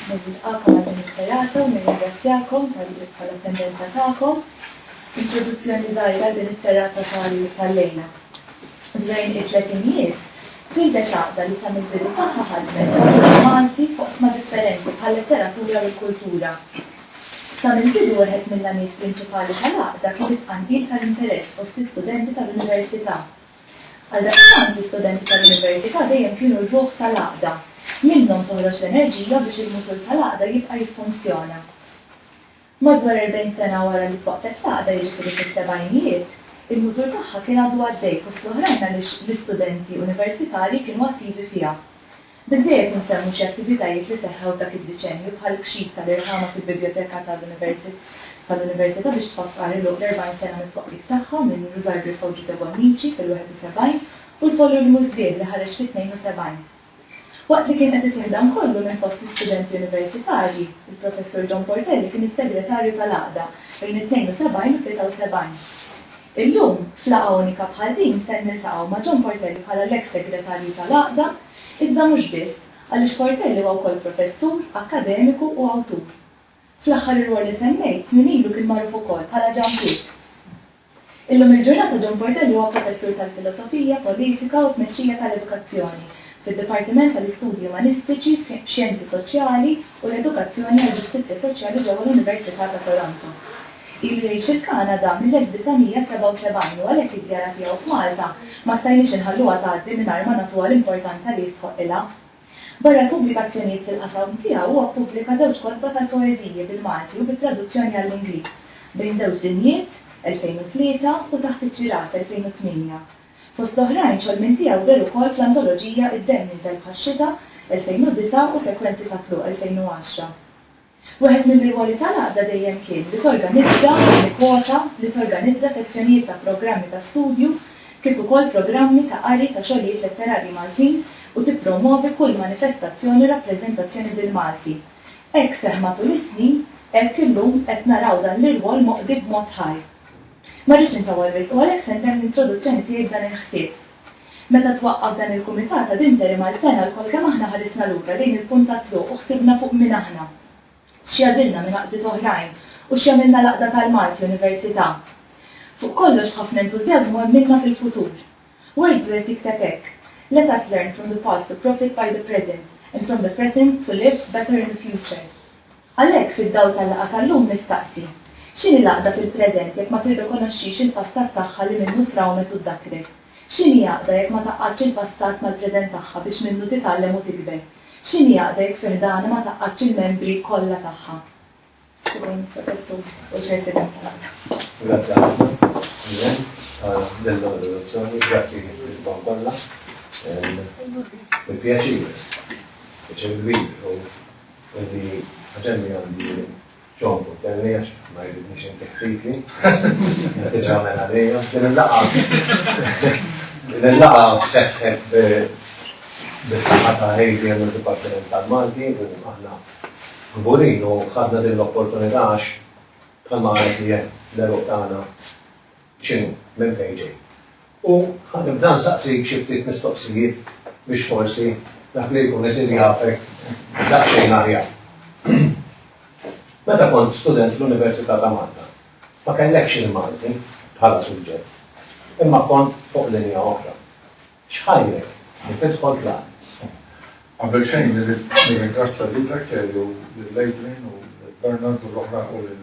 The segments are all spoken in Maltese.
Nilqakom għal din is-serata u nirringrazzjakom tal-attendenza tagħkom. Introduzzjoni żgħira għal din is-serata tal-lejla. Bżonn it-tletinijiet, twieldet għaqda li sa mill-bidu tagħha ħadmet ħafna Malti f'oqsma differenti bħal-letteratura u l-kultura. Sa mill-bidu wieħed mill-għanijiet prinċipali tal-għaqda kien it-tqanqil tal-interess fost l-istudenti tal-Università. Għaldaqstant, l-istudenti tal-Università dejjem kienu r-ruħ tal-għaqda. Minnhom toħroġ l-enerġija biex il-mutur tal-għaqda jibqa' jiffunzjona. Madwar erbgħin sena wara li twaqqfet l-għaqda, jiġifieri fis-sebgħinijiet, il-mutur tagħha kien għadu għaddej fost l-oħrajn għaliex l-istudenti Universitarji kienu attivi fiha. Billi qed insemmu xi attivitajiet li seħħew f'dak id-diċennju bħall-kxif tal-irħama fil-Bibljoteka tal-Università biex tfakkar iluq l-40 sena mit-twaqqif tagħha minn Rużar Griffa u Ġużè Bonnici fil-71 u l-volulmu sbieħ li ħareġ fit-72. Waqt li kien qed iseħħ dan kollu minn fost l-istudenti universitarji, il-Professur John Portelli kien is-Segretarju tal-Għaqda bejn it-72 u t-73. Illum, f'laqgħa unika bħal din ser niltaqgħu ma' John Portelli bħala l-eks Segretarju tal-Għaqda, iżda mhux biss, għaliex Portelli huwa wkoll professur, akkademiku u awtur. Fl-aħħar ir-rwol li semmejt snin ilu kien magħruf ukoll bħala Ġan Pitt. Illum il-ġurnata John Portelli huwa professur tal-Filosofija, Politika u Tmexxija tal-Edukazzjoni fid-Dipartiment tal-Istudji Umanistiċi, Xjenzi Soċjali u l-Edukazzjoni għall-Ġustizzja Soċjali ġewwa l-Università ta' Toronto. Ilu jgħix il-Kanada mill-1977 u għalhekk iż-żjara tiegħu f'Malta ma stajniex inħalluha tgħaddi mingħajr ma nagħtuha l-importanza li jistħoqqilha. Barra l-pubblikazzjonijiet fil-qasam tiegħu huwa ppubblika żewġ kotba tal-poeżiji bil-Malti u bit-traduzzjoni għall-Ingliż, Bejn Żewġ Dinjiet, 2003, u Taħt iċ-Ċirat, 2008. Fost l-oħrajn, xogħol minn tiegħu deher ukoll fl-antoloġija Id-Demm Jinżel Bħax-Xita, 2009, u Sekwenzi ta' Tluq, 2010. Wieħed mir-regoli tal-għaqda dejjem kien li torganizza u tikkwota li torganizza sessjonijiet ta' programmi ta' studju kif ukoll programmi ta' qari ta' xogħlijiet letterarji Maltin u tippromwovi kull manifestazzjoni u rappreżentazzjoni bil-Malti. Hekk seħħ matul is-snin, hekk illum qed naraw dan l-irwol moqdi b'mod ħaj. Ma rridx intawwal wisq u għalhekk se ntemm l-introduzzjoni tiegħi b'dan il-ħsieb. Meta twaqqaf dan il-kumitat ad interim għal sena lkoll kemm aħna ħarisna lura lejn il-punt tat-tluq u ħsibna fuq min aħna, x'jagħżilna minn għaqdiet oħrajn u x'jagħmilna l-Għaqda tal-Malti Università. Fuq kollox b'ħafna entużjażmu għemminna fil-futur. Wardju qed jikteb hekk, Let us learn from the past to profit by the present, and from the present to live better in the future. Għalhekk, fid-dawl tal-laqgħa tal-lum nistaqsi, x'inhi l-għaqda fil-preżent jekk ma tirrikonoxxix il-passat tagħha li minnu trawmet u ddakkret? X'inhi għaqda jekk ma tgħaqqadx il-passat mal-preżent tagħha biex minnu titgħallem u tikber? X'inhi għaqda jekk fi ħdanha ma tgħaqqadx il-membri kollha tagħha? Skużawni, Professur, u l-President tal-Għaqda. Grazzi ħafna, Irène, ta' din l-introduzzjoni. Grazzi lilkom kollha. Bi pjaċir, pjaċir kbir. Inti ħaġenni għandi John Putelli għax ma jridnix inti ħtiti. Inti ġamen għalija. Din il-laqa. Din il-laqa seħħet bis-saħħa ta' ADM u Dipartiment tal-Malti u aħna kburin u ħadna din l-opportunità għax bħalma għalet li l-eruq tagħna x'inhu, minn fejn ġej. U ħa nibda nsaqsik xi ftit mistoqsijiet biex forsi dak li jkun isir jafek daqsxejn aħjar. Meta kont student fl-Università ta' Malta, ma kellekx il-Malti bħala suġġett, imma kont fuq linja oħra. X'ħajrek li tidħol fl-Art? Qabel xejn irrid nirringrazzja lilek, Elio, lil Adrian u lil Bernard u l-oħra u lil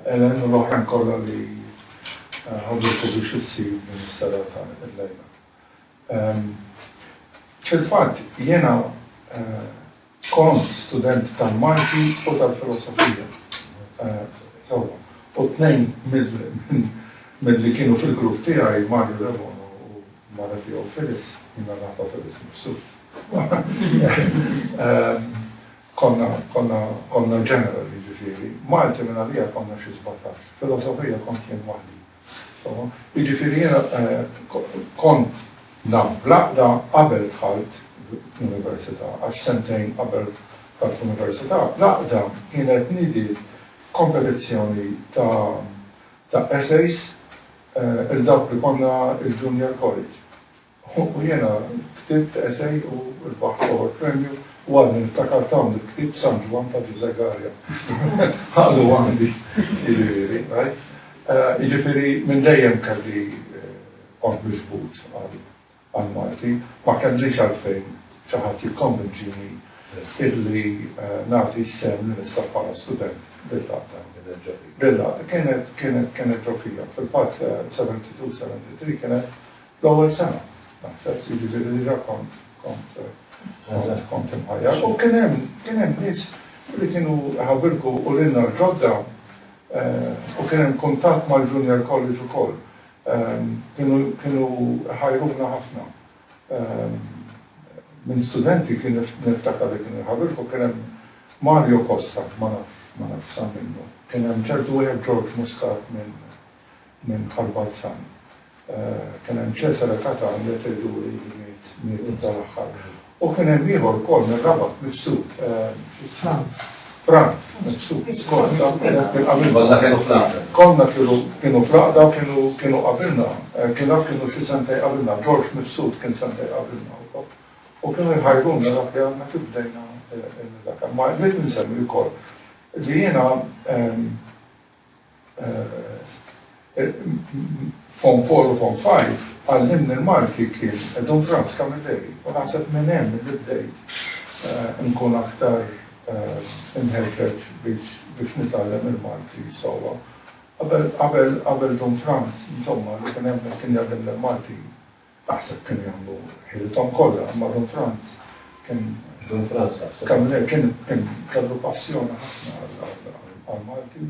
Ellen u l-oħrajn kollha li ħadu l-kubi x'issir din is-serata illejla. Fil-fatt jiena kont student tal-Malti u tal-Filosofija sewwa u t-tnejn mill-li kienu fil-grupp tiegħi, Mario Debono u mara tiegħu Phyllis, jiena nafha Phyllis mifsud, Konna, konna, konna general jiġifieri, Malti minn għalija konna xi sbatax, filosofija kont jien waħdi. Insomma, jiġifieri jiena kont naf bl-għaqda qabel dħalt l-università għax sentejn qabel dħalt l-università l-għaqda kienet nidiet kompetizzjoni ta' ta' essays 'il dawk li konna il-junior college. Hu u jiena ktibt esej u rbaħt l-ewwel premju u għadni niftakar ta' hawn il-ktieb San Ġwann ta' Ġużè Galea. Għadu għandi, jiġifieri, rajt. Jiġifieri minn dejjem kelli kont miġbud għall-Malti. Ma kellix għalfejn xi ħadd jikkonvinċini illi nagħti s-sehem li nista' bħala student bil-għaqda. Bil-għaqda. Kienet ġo fija. Fil-fatt 72, 73 kienet L-ewwel sena, naħseb, Sidi Ġieli diġà kont kont kont imħajjar. U kien hemm kien hemm nies li kienu ħabirku u lilna l-ġodda u kien hemm kuntatt mal-Junior College ukoll. Kienu kienu ħajruna ħafna. Minn studenti kien niftakar li kienu jħabirku kien hemm Mario Costa, ma nafx ma nafx sar minnu. Kien hemm ċertu wieħed George Muscat minn minn Karl Balzan. Kien hemm Cesare Catan li qed idur il-bliet miegħu tal-aħħar. U kien hemm ieħor ukoll mir-Rabat mifsud. Franz. Franz, mifsud. Kollha kienu fl-għaqda. Kollha kienu fl-għaqda u kienu qabilna. Kien naf kienu xi sentejn qabilna. George mifsud kien sentejn qabilna wkoll. U kienu jħajruna dak li għadna kif bdejna nidhakar. Ma rrid insemmi wkoll li jiena Form Four u Form Five għallimni l-Malti kien Don Franz Camilleri u naħseb minn hemm li bdejt inkun aktar imħeġġeġ biex nitgħallem il-Malti sewwa. Qabel Don Franz, insomma, li kien hemm kien jgħallimna l-Malti Aħseb kemm hemm mur. Ħilithom kollha, imma Dun Franz kien. Dun Franz aħseb. Kamilè kien kellu passjoni ħafna għall-Malti u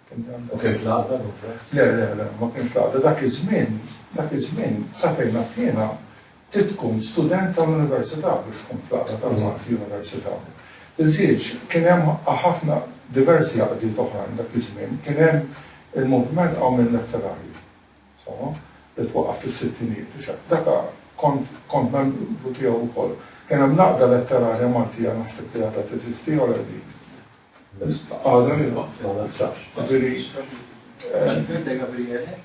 kien jgħallem. U kien fl-għaqda Dun Franz? Le, le, le, ma kienx fl-għaqda. Dak iż-żmien, dak iż-żmien, sa fejn naf jiena, trid tkun student tal-Università biex tkun fl-għaqda tal-Malti Università. Inżidx, kien hemm ħafna, diversi għaqdiet oħrajn dak iż-żmien. Kien hemm il-moviment Qawmien Letterarju. Insomma, li twaqqaf fis-sittinijiet diġà. Dak kont kont membru tiegħu wkoll. Kien hemm l-Għaqda Letterarja Maltija naħseb li għadha teżisti jew le dik. Għadha li waqfet għadha ċar. Jiġifieri Alfred de Gabriele?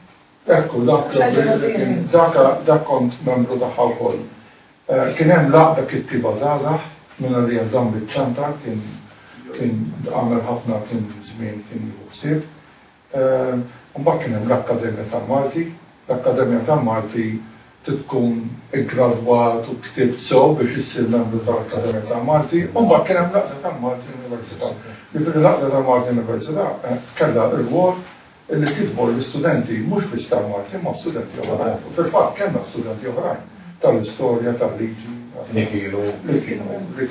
Ekku, dak Gabriele kien dak dak kont membru tagħha wkoll. Kien hemm l-Għaqda Kittieba Żgħażagħ mingħajr li jeżżamm biċ-ċantar kien kien għamel ħafna kien żmien kien jieħu ħsieb. Mbagħad kien hemm l-Akkademja tal-Malti. L-Akkademja tal-Malti trid tkun iggradwat u ktibt sew biex issir membru tal-Akkademja tal-Malti. U mbagħad kien hemm l-Għaqda tal-Malti Università. Jiġifieri l-Għaqda tal-Malti Università kellha r-rwol li tiġbor l-istudenti mhux biss tal-Malti imma studenti oħrajn. U fil-fatt kellna studenti oħrajn tal-Istorja, tal-Liġi, li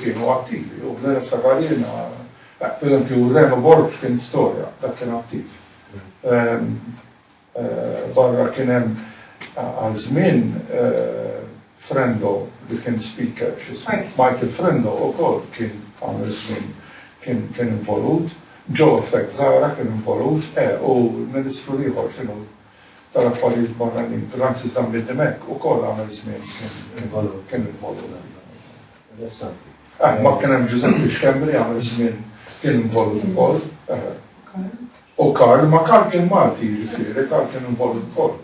kienu attivi. U bla niftakar jiena, Dak per eżempju Reno Borg kien storja, dak kien attiv. Barra kien hemm għal żmien Frendo li kien speaker, Michael Frendo ukoll kien għamel żmien kien kien involut, Joe Effect Zahra kien involut, eh, u l-Ministru l-ieħor x'inhu tal-Affarijiet Barranin, Francis Zammit Dimech ukoll għamel żmien kien involut. Mbagħad kien hemm Ġużeppi Xkembri li għamel żmien kien involut ukoll. U Karl, ma Karl kien Malti jiġifieri, Karl kien involut ukoll.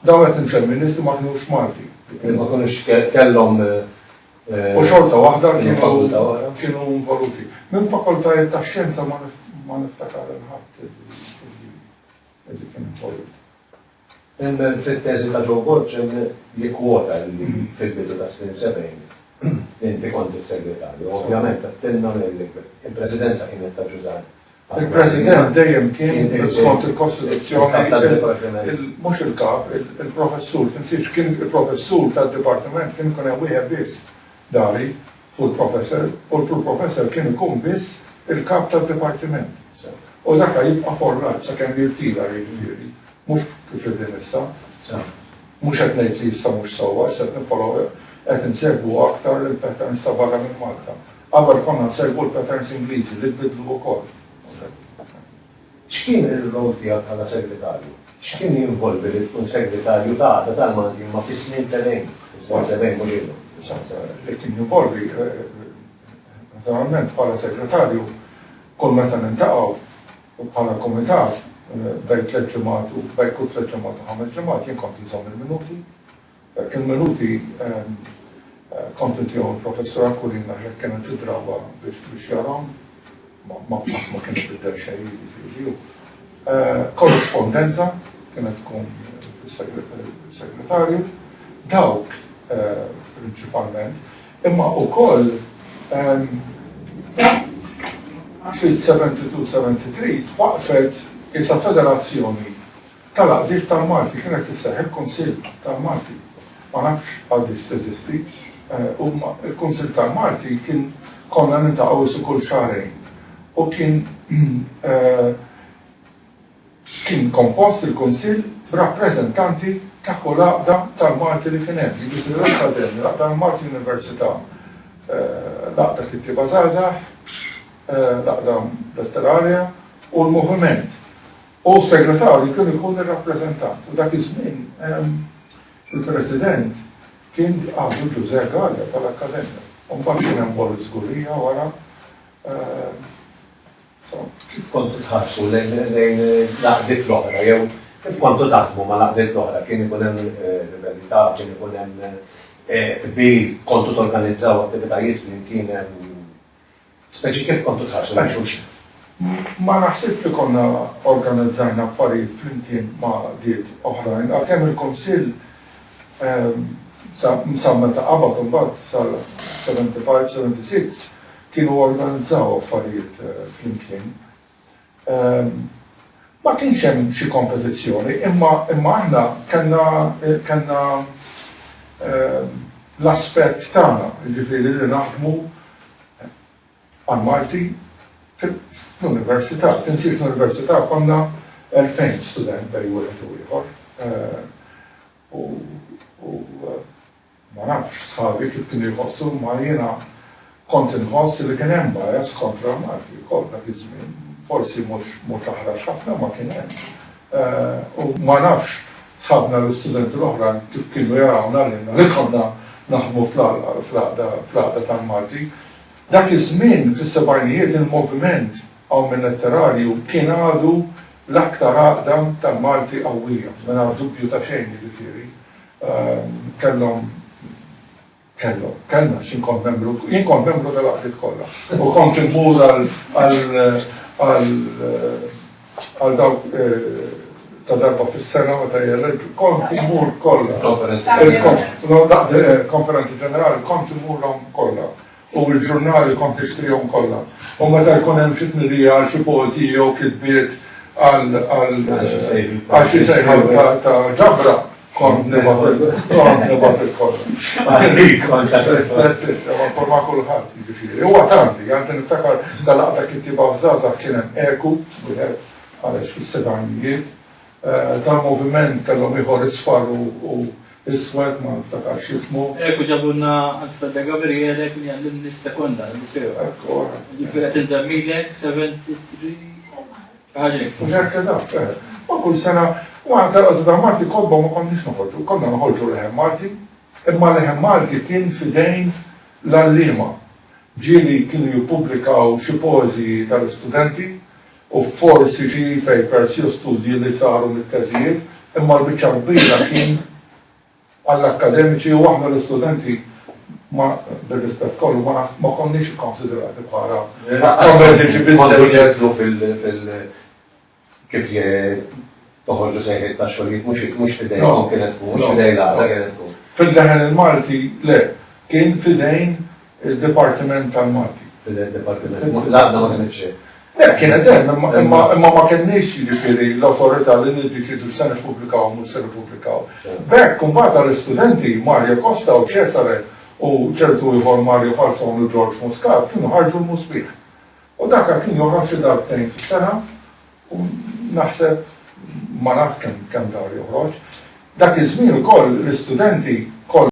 Dawn qed insemmi nies li ma kinux Malti. Li ma kinux kellhom. U xorta waħda kienu involuti. Minn fakultajiet tax-xjenza ma niftakar il-ħadd li kien involut. Imma fit-teżi ta' Joe Borg jikkwota li fil-bidu tas-snin 70 inti kont is-Segretarju. Ovvjament għedtilna li l-Presidenza kienet ta' Ġużanne. Il-President dejjem kien, skont il-Kostituzzjoni, mhux il-Kap, il-Professur. Tinsiex, kien il-Professur tad-Dipartiment, kien ikun hemm wieħed biss. Dari, hu l-professor, u l-full professor kien ikun biss il-kap tad-dipartiment. U dak ha jibqa' forrat sakemm jirtira jiġifieri, mhux kif qegħdin issa. Mhux qed ngħid li issa mhux sewwa, issa qed niffollow, qed insegwu aktar il-patterns ta' barra minn Malta. Qabel konna nsegwu l-patterns Ingliżi li tbiddlu wkoll. X'kien ir-role tiegħek bħala Segretarju? X'kien jinvolvi li tkun Segretarju ta' Għaqda tal-Malti imma fi snin sebgħin, fis-snin sebgħin mhux illum? Li kien jinvolvi, naturalment, bħala Segretarju, kull meta niltaqgħu u bħala Kumitat, bejn tliet ġimgħat u bejn kull tliet ġimgħat u ħames ġimgħat, jien kont inżomm il-minuti Dak il-minuti kontinti hawn il-Professur Aquilina jekk kienet tidrabha biex tbixxarhom, ma kien ibiddel xejn jiġifieri hu. Korrispondenza kienet tkun fis-segretarju. Dawk prinċipalment, imma wkoll fil-72, 73 waqfet qisha federazzjoni tal-Għaqdiet tal-Malti kienet tisseħħ il-Kunsill tal-Malti. Ma nafx għadiex teżisti. Huma il-Kunsill tal-Malti kien konna niltaqgħu isi kull xahrejn u kien kien kompost il-Kunsill b'rappreżentanti ta' kull għaqda tal-Malti li kien hemm, jiġifieri l-Akkademja, l-Għaqda tal-Malti Università, l-Għaqda Kittieba Żgħażagħ, l-Għaqda Letterarja u l-Moviment. U s-Segretarju kien ikun ir-rappreżentant. U dak iż-żmien il-President kien għadu Ġużè Galea tal-Akkademja. U mbagħad kien hemm Boris Sguria wara. Insomma. Kif kontu tħarsu lejn l-għaqdiet l-oħra jew kif kontu taħdmu mal-għaqdiet l-oħra? Kien ikun hemm rivalità, kien ikun hemm qbil, kontu torganizzaw attivitajiet flimkien? Speċi kif kontu tħarsu lejn xulxin. Ma naħsibx li konna organizzajna affarijiet flimkien ma' għaqdiet oħrajn, għalkemm il-Kunsill sa meta qabad imbagħad sal-75, 76 kienu organizzaw affarijiet flimkien. Ma kienx hemm xi kompetizzjoni, imma imma aħna kellna kellna l-aspett tagħna, jiġifieri li naħdmu għall-Malti fl-università. Tinsiehx l-università konna elfejn student bejn wieħed u ieħor u u Ma nafx sħabi kif kienu jħossu imma jiena kont inħoss li kien hemm bias kontra l-Malti wkoll dak iż-żmien. Forsi mhux mhux aħrax ħafna imma kien hemm. U ma nafx sħabna l-istudenti l-oħrajn kif kienu jarawna lilna li konna naħdmu fl-għaqda fl-għaqda tal-Malti. Dak iż-żmien fis-sebgħinijiet il-moviment Awmin Letterarju kien għadu l-aktar għaqda tal-Malti qawwija mingħajr dubju ta' xejn jiġifieri. Kellhom, kellhom, kellna xi nkont membru, jien kont membru tal-għaqdiet kollha u kont immur għal dawk ta' darba fis-sena meta jeleġġu, kont immur kollha. Konferenzi ġenerali. Konferenzi ġenerali, kont immurhom kollha. u l-ġurnali kont nixtrihom kollha, u meta jkun hemm xi tnedija għal xi poeżiji jew kitbiet għal għal xi sejħa ta' ġabra, kont nibgħat il-kors. Ma' kulħadd, jiġifieri. Huwa tardi, anke niftakar dal-għaqda kittieba f'żgħażagħ kien hemm Eku, wieħed, għaliex fis-sebgħinijiet, tal-moviment kellhom ieħor isfar u u iswed ma niftakarx ismu. Hekk u ġabulna għand Frate Gabriele kien jgħallimni s-sekonda, il-Liceo. Hekk u hekk. Jiġifieri qed inżemmilek 73 xi ħaġa hekk. Mhux hekk eżatt, eh. U kull sena u aħna tal-għadu ta' Malti kotba ma konniex noħorġu, konna noħorġu leħen Malti, imma l-leħen Malti kien f'idejn l-għalliema. Ġieli kienu jippubblikaw xi poeżiji tal-istudenti, u forsi xi e-papers jew studji li saru mit-teżijiet, imma l-biċċa l-kbira kien għall-akkademiċi u aħna l-istudenti ma, bir-rispett kollu, ma naħs, ma konniex ikkonsidrati bħala akkademiċi biżżejjed. Kont qed nidħlu fil, fil, kif, Toħorġu sejħiet ta' xogħlijiet mhux mhux f'idejkom kienet tkun, mhux f'idej l-għaqda kienet tkun. Fil-Leħen il-Malti le, kien f'idejn id-Dipartiment tal-Malti. F'idejn id-Dipartiment, l-għaqda ma kinitx hemm. Le, kienet hemm imma imma imma ma kenniex jiġifieri l-awtorità li niddeċiedu x'se nippubblikaw u mhux se nippubblikaw. B'hekk imbagħad tal-istudenti Mario Costa u Cesare u ċertu ieħor Mario Falzon u George Muscat kienu ħarġu l-Musbigħ. U dak kien joħroġ xi darbtejn fis-sena U naħseb, ma nafx kemm kemm dar joħroġ, dak iż-żmien ukoll l-istudenti kollha.